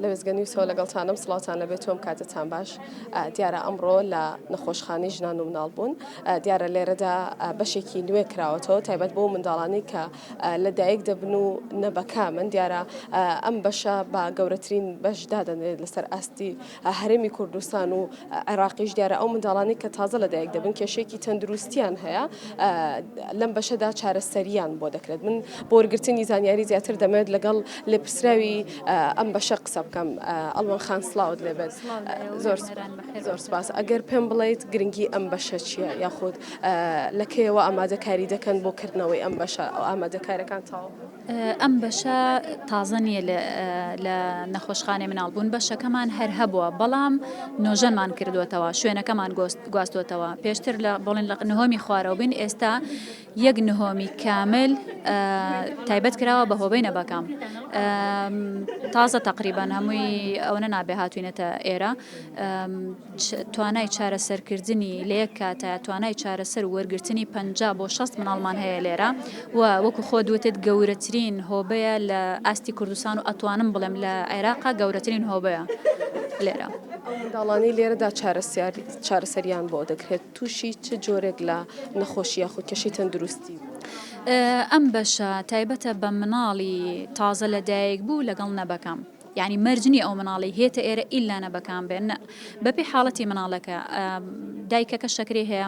لەوێزگەنی سۆ لەگەڵتانم سڵاتان لەبێت تۆم کاتتان باش دیارە ئەمڕۆ لە نەخۆشخانی ژنان و مناڵ بوون دیارە لێرەدا بەشێکی نوێ کراوەتەوە تایبەت بۆ منداڵانی کە لە دایک دەبن و نەبەکامن دیارە ئەم بەشە با گەورەترین بەش دادەنرێت لەسەر ئاستی هەرێمی کوردستان و عێراقیش دیارە ئەو منداڵانی کە تازە لە دایک دەبن کێشێکی تەندروستیان هەیە لەم بەشەدا چارەسەریان بۆ دەکرێت من بۆرگرتنی زانیاری زیاتر دەمێت لەگەڵ لێپرسراوی ئەم بەشە قسە بکەم ئەڵوان خان سلااوت لێبێت زۆر. زۆر سپاس ئەگەر پێم بڵێیت گرنگی ئەم بەشە چییە یاخود لە کەیەوە ئامادەکاری دەکەن بۆ کردنەوەی ئەم بەشە ئەو ئامادەکارەکان تاو ئەم بەشە تازە نییە لە نەخۆشخانێ مناڵ بوون بەشەکەمان هەر هەبووە بەڵام نۆژەنمان کردوێتەوە شوێنەکەمان گۆست گواستوتەوە پێشتر لە بڵێن لە نهۆمی خوارەوە بین ئێستا یەک نهۆمی کامل تایبەت کراوە بە هۆبەی نەبەکام تازە تقریبان هەمووی ئەوەنە نابێ هاتوینەتە ئێرە توانای چارەسەرکردنی لە یەک کاتە توانای چارەسەر وەرگرتنی پ بۆ 6 مناڵمان هەیە لێرە و وەکو خۆ دوتت گەورەترین هۆبەیە لە ئاستی کوردستان و ئەتوانم بڵێم لە عێراقا گەورەترین هۆبەیە لێرە داڵانی لێرەدا چارەسیار چارەسەریان بۆ دەکرێت تووشی چ جۆرێک لە نەخۆشی یاخود کێشەی تەندروستی بوو؟ ئەم بەشە تایبەتە بە مناڵی تازە لە دایک بوو لەگەڵ نەبەکەم. یانی مەرج نیە ئەو مناڵەی هێتە ئێرە ئیلا نەبەکان بێ نە بەپی حاڵەتی مناڵەکە دایکەکە شەکری هەیە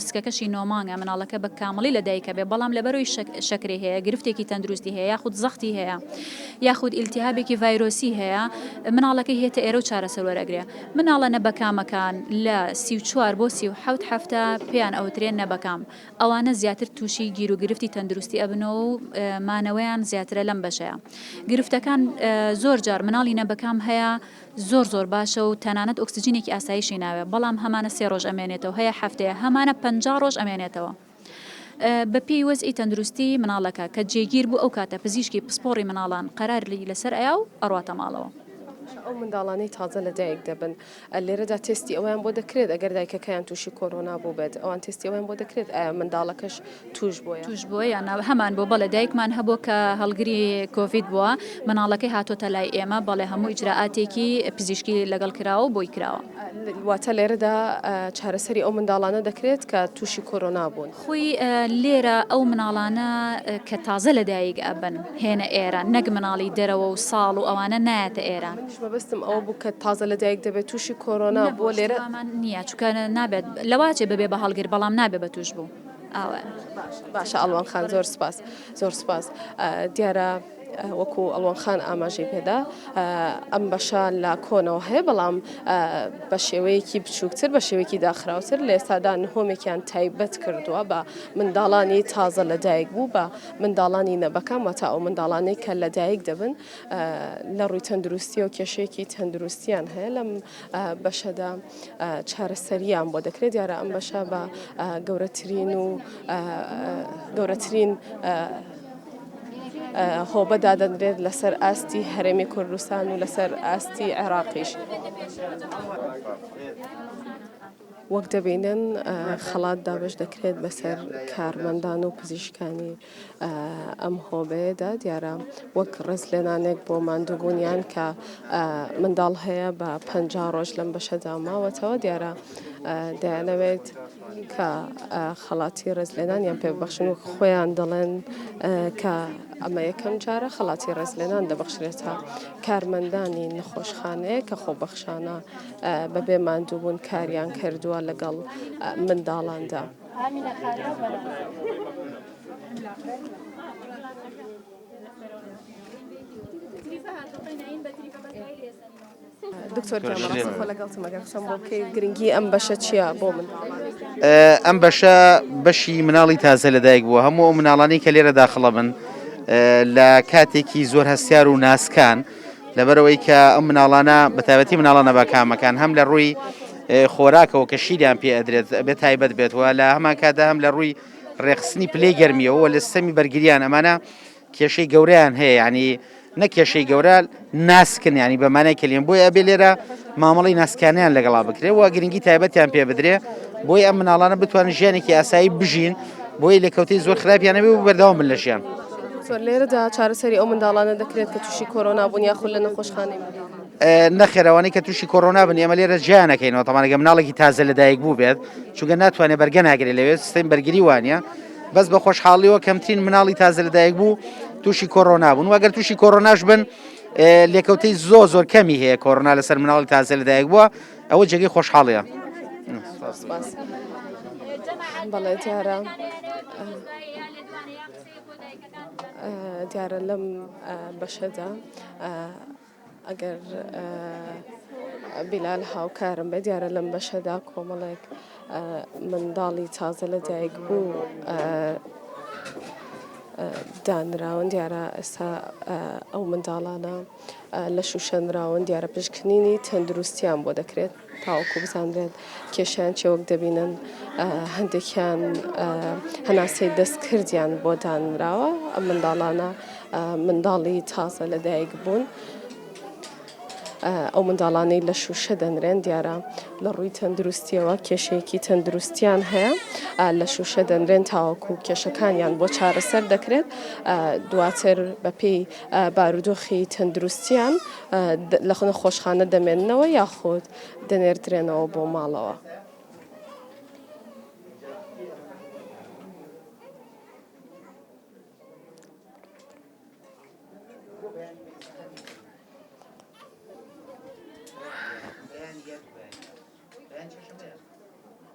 سکەکەشی نۆمانگە مناڵەکە بە کامڵی لە دایکە بێ بەڵام لەبەرەوەی شەکری هەیە گرفتێکی تەندروستی هەیە یاخود زەختی هەیە یاخود ئیلتیهابێکی ڤایرۆسی هەیە مناڵەکە هێتە ئێرە و چارەسەر وەرەگرێ مناڵە نەبەکامەکان لە سی و چوار بۆ سی و حەوت هەفتە پێیان ئەوترێ نەبەکام، ئەوانە زیاتر تووشی گیروگرفتی تەندروستی ئەبنەوە و مانەوەیان زیاترە لەم بەشەیە. گرفتەکان، زۆر جار مناڵی نەبەکام هەیە زۆر زۆر باشە و تەنانەت ئۆکسجینێکی ئاسایشی ناوێ، بەڵام هەمانە سێ ڕۆژ ئەمێنێتەوە، هەیە هەفتەیە، هەمانە پەنجا ڕۆژ ئەمێنێتەوە. بە پێی وەزعی تەندروستی مناڵەکە کە جێگیر بوو ئەو کاتە پزیشکی پسپۆڕی مناڵان قەراری لە سەر ئەیا و ئەڕواتە ماڵەوە. ئەو منداڵانەی تازە لە دایک دەبن لێرەدا تێستی ئەوەیان بۆ دەکرێت ئەگەر دایکەکەیان تووشی کۆرۆنا بووبێت ئەوان تێستی ئەوەیان بۆ دەکرێت ئەیا منداڵەکەش تووش بۆیە تووش بۆ یان ناوە هەمان بۆ بەڵێ دایکمان هەبوو کە هەڵگری کۆڤید بووە مناڵەکەی هاتۆتە لای ئێمە بەڵێ هەموو ئیجرائاتێکی پزیشکی لەگەڵ کراوە بۆی کراوە. واتە لێرەدا چارەسەری ئەو منداڵانە دەکرێت کە تووشی کۆرۆنا بوون. خۆی لێرە ئەو مناڵانە کە تازە لە دایک ئەبن هێنە ئێرە نەک مناڵی دەرەوە و ساڵ و ئەوانە نایەتە ئێرە. منیش مەبەستم ئەوە بوو کە تازە لە دایک دەبێت تووشی کۆرۆنا بووە لێرە. نەبوو ئەوەمان نییە چونکە نابێت لەوە ئەچێت ببێت بە هەڵگر بەڵام نابێت بە تووشبوو ئەوە. باشە باشە ئەڵوان خان زۆر سوپاس زۆر سوپاس دیارە. وەکو ئەڵوەن خان ئاماژەی پێدا ئەم بەشە لە کۆنەوە هەیە بەڵام بە شێوەیەکی بچووکتر بە شێوەیەکی داخراوتر لە ئێستادا نهۆمێکیان تایبەت کردووە بە منداڵانی تازە لەدایک بوو بە منداڵانی نەبەکەم وەتا ئەو منداڵانەی کە لەدایک دەبن لە ڕووی تەندروستی و کێشێکی تەندروستیان هەیە لەم بەشەدا چارەسەریان بۆ دەکرێت دیارە ئەم بەشە بە گەورەترین و گەورەترین هۆبە دادەنرێت لەسەر ئاستی هەرێمی کوردستان و لەسەر ئاستی عێراقیش. وەک دەبینن خەڵات دابش دەکرێت بەسەر کارمەندان و پزیشکانی ئەم هۆبەیەدا دیارە وەک ڕێز لێنانێک بۆ ماندووبوونیان کە منداڵ هەیە بە پ ڕۆژ لەم بەشەدا ماوەتەوە دیارە دەیانەوێت کە خەڵاتی ڕێزلێنانیان پێ ببەخشن و خۆیان دەڵێن کە ئەمە یەکەم جارە خەڵاتی ڕێزلێنان دەبەخشرێتە کارمەندانی نەخۆشخانەیە کە خۆبەخشانە بەبێ ماندووبوون کاریان کردووە لەگەڵ منداڵاندا. دکتۆر گیان بەڕاستی خۆ لەگەڵتم ئەگەر قسەم بۆ بکەی گرنگی ئەم بەشە چییە بۆ منداڵان؟ ئەم بەشە بەشی مناڵی تازە لەدایک بووە هەموو ئەو مناڵانی کە لێرە داخڵە بن لە کاتێکی زۆر هەستیار و ناسکان لەبەرەوەی کە ئەم مناڵانە بەتابەتی مناڵانە بەکامەکان هەم لە ڕووی خۆراکەوە کە شیریان پێ ئەدرێت بێت تایبەت بێتەوە لە هەمان کادا هەم لە ڕووی ڕێخستنی پلەی گەرمیەوە لە سەمی بەرگریان ئەمانە کێشەی گەورەیان هەیە یعنی نە کێشەی گەورە ناسکن ینی بە مانای کلیم بۆی ئەبێ لێرە مامەڵی ناسکانیان لەگەڵا بکرێ و گرنگی تایبەتیان پێ بدرێ بۆی ئەم مناڵانە بتوان ژیانێکی ئاسایی بژین بۆی لە کەوتی زۆر خراپیانەبێ و بەردەوام من لە ژیان. لێرەدا چارەسەری ئەو منداڵانە دەکرێت کە تووشی کۆرۆنا بوون یاخود لە نەخۆشخانەی نەخێرەوانی کە تووشی کۆرۆنا بن ئێمە لێرە جیانەکەینەوە تەمانەگە مناڵێکی تازە لەدایک بوو بێت چونگە ناتوانێت بەرگە ناگرێت لەوێت سیم بەرگری وانە بەس بە خۆشحاڵیەوە کەمترین مناڵی تازە لەدایک بوو تووشی کۆرۆنا بوون وەگەر تووشی کۆرۆناش بن لێکەوتەی زۆ زۆر کەمی هەیە کۆرۆنا لەسەر مناڵی تازە لەدایک بووە ئەوە جێگەی خۆشحاڵەیە بەڵێ دیارە دیارە لەم بەشەدا ئەگەر بیلال هاوکارم بێت دیارە لەم بەشەدا کۆمەڵێک منداڵی تازە لە دایک بوو دانراون دیارە ئێستا ئەو منداڵانە لە شوشەنراون دیارە پشکنینی تەندروستیان بۆ دەکرێت تاوەکو بزانرێت کێشیان چیە وەک دەبینن هەندێکیان هەناسەی دەستکردیان بۆ دانراوە ئەم منداڵانە منداڵی تازە لە دایک بوون. ئەو منداڵانەی لە شوشە دەنرێن دیارە لە ڕووی تەندروستیەوە کێشەیەکی تەندروستیان هەیە لە شوشە دەنرێن تاوەکو کێشەکانیان بۆ چارەسەر دەکرێت دواتر بەپی بارودۆخی تەندروستییان لە نەخۆشخانە دەمێننەوە یاخود دەنێردرێنەوە بۆ ماڵەوە.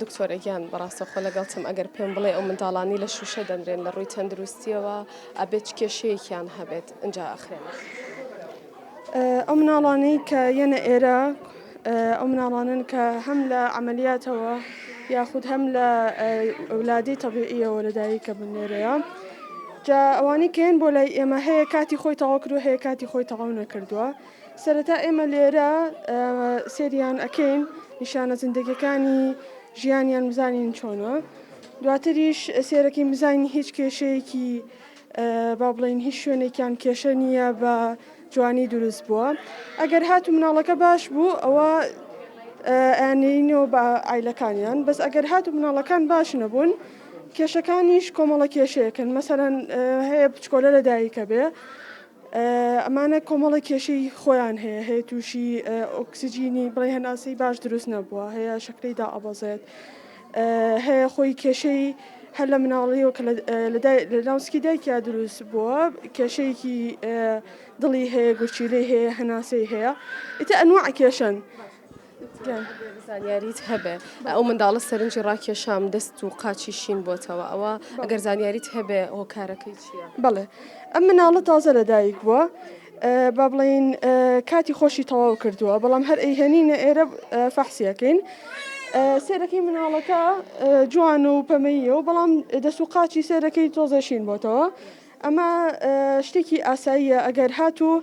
دکتۆرە گیان بەڕاستە خۆ لەگەڵتم ئەگەر پێم بڵێ ئەو منداڵانی لە شوشە دەنرێن لە ڕووی تەندروستیەوە ئەبێت کێشەیەکیان هەبێت ئەجا ئەخرێن ئەو مناڵانەی کە یەنە ئێرە ئەو مناڵانن کە هەم لە عملیاتەوە یاخود هەم لە ئەولادی تەبیعیەوە لەدایک کە بنێرەیە جا ئەوانی کێن بۆ لای ئێمە هەیە کاتی خۆی تەواو کردو هەیە کاتی خۆی تەواو نەکردووە سەرەتا ئێمە لێرە سێریان ئەکەین نیشانە زیندەگیەکانی ژیانیان بزانین چۆنە دواتریش سێرەکەی بزانین هیچ کێشەیەکی با بڵین هیچ شوێنێکیان کێشە نییە بە جوانی دروست بووە ئەگەر هات و مناڵەکە باش بوو ئەوە ئەیانەوە بە ئایلەکانیان بەس ئەگەر هات و مناڵەکان باش نەبوون کێشەکانیش کۆمەڵە کێشەیەکن مەسەرەن هەیە بچکۆلە لە دایکە بێ ئەمانە کۆمەڵێک کێشەی خۆیان هەیە هەیە تووشی ئۆکسسیجینی بڵێ هەناسەی باش دروست نەبووە هەیە شکری دا ئەبەزێت هەیە خۆی کێشەی هەر لە مناڵیەوە کە لە ناوسکی دایکیا دروست بووە کێشەیەکی دڵی هەیە گورچیلەی هەیە هەناسەی هەیە ئیتە ئەنوع کێشن گیان زانیاریت هەبێ ئەو منداڵە سەرنجی ڕاکێشام دەست و قاچی شین بۆتەوە ئەوە ئەگەر زانیاریت هەبێ هۆکارەکەی چییە؟ بەڵێ ئەم مناڵە تازە لەدایک بووە با بڵین کاتی خۆشی تەواو کردووە بەڵام هەر ئەیهێنینە ئێرە فەحسیەکەین سێرەکەی مناڵەکە جوان و پەمەیە و بەڵام دەست و قاچی سێرەکەی تۆزەشین بۆتەوە ئەمە شتێکی ئاساییە ئەگەر هاتوو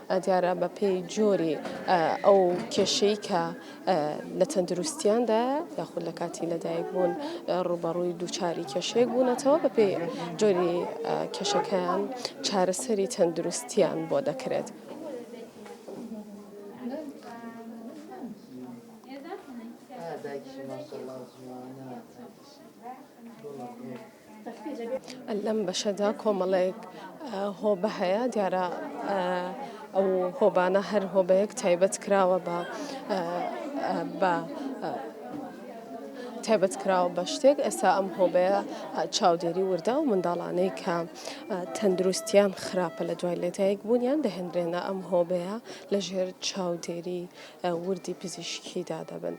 دیارە بە پێی جۆری ئەو کێشەی کە لە تەندروستیاندا یاخود لە کاتی لەدایک بوون ڕوبەڕووی دووچاری کێشەیەک بوونەتەوە بە پێی جۆری کێشەکەیان چارەسەری تەندروستیان بۆ دەکرێت. دایکی ماشاءاللە جوانە لەم بەشەدا کۆمەڵێک هۆبە هەیە دیارە ئەو هۆبانە هەر هۆبەیەک تایبەت کراوە بە بە تایبەت کراوە بە شتێک ئێستا ئەم هۆبەیە چاودێری وردە و منداڵانەی کە تەندروستیان خراپە لە دوای لەدایک بوونیان دەهێنرێنە ئەم هۆبەیە لەژێر چاودێری وردی پزیشکیدا دەبن.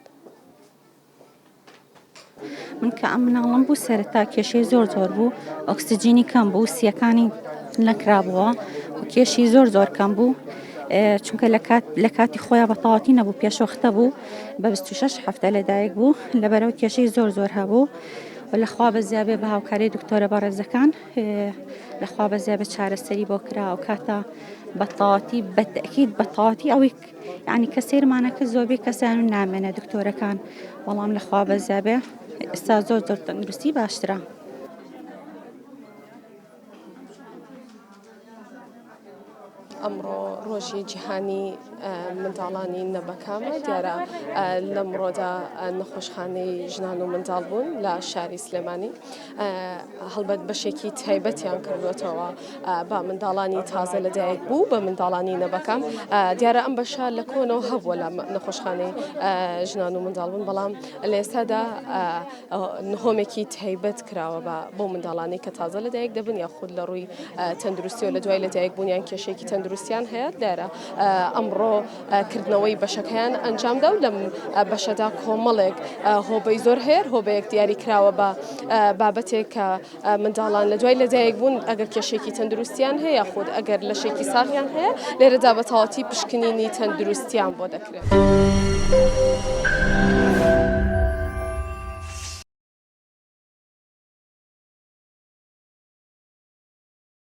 من کە ئەم مناڵم بوو سەرەتا کێشەی زۆر زۆر بوو ئۆکسسیجینی کەم بوو سیەکانی نەکرابووە کێشی زۆر زۆر کەم بوو چونکە لە کاتی خۆیان بە تەواتی نەبوو پێشوەختە بوو بە 26 هەفتە لەدایک بوو لەبەرەوە کێشەی زۆر زۆر هەبوو لەخوا بە زیابێ بە هاوکاری دکتۆرە بەڕێزەکان لەخوا بە زیابێ چارەسەری بۆ کرا و کاتە بەتەواتی بەتەکیید بەتەواتی ئەوەی یانی کە سەیرمانە کرد زۆربەی کەسیان و نامێنە دکتۆرەکان وەڵام لەخوا بەزیابێ ئستا زۆر زۆر تەندروستی باشترە. ئەمڕۆ ڕۆژی جیهانی منداڵانی نەبەکامە دیارە لەمڕۆدا نەخۆشخانەی ژنان و منداڵ بوون لە شاری سلێمانی هەڵبەت بەشێکی تایبەتیان کردوێتەوە بە منداڵانی تازە لە دایک بوو بە منداڵانی نەبەکەم دیارە ئەم بەشە لە کۆنەوە هەبووە لە نەخۆشخانەی ژنان و منداڵبوون بەڵام لە ئێستادا نهۆمێکی تایبەت کراوە بە بۆ منداڵانی کە تازە لە دایک دەبن یا خود لە ڕووی تەندروستی و لە دوای لە دایک بوونیان کێشێکی تەندروستیان هەیە دیارە ئەمڕۆ کردنەوەی بەشەکەیان ئەنجامدا و لەم بەشەدا کۆمەڵێک هۆبەی زۆر هەیە هۆبەیەک دیاری کراوە بە بابەتێک کە منداڵان لە دوای لەدایک بوون ئەگەر کێشێکی تەندروستیان هەیە خود ئەگەر لە شێکی ساغیان هەیە لێرەدا بە تەواتی پشکنینی تەندروستیان بۆ دەکرێت.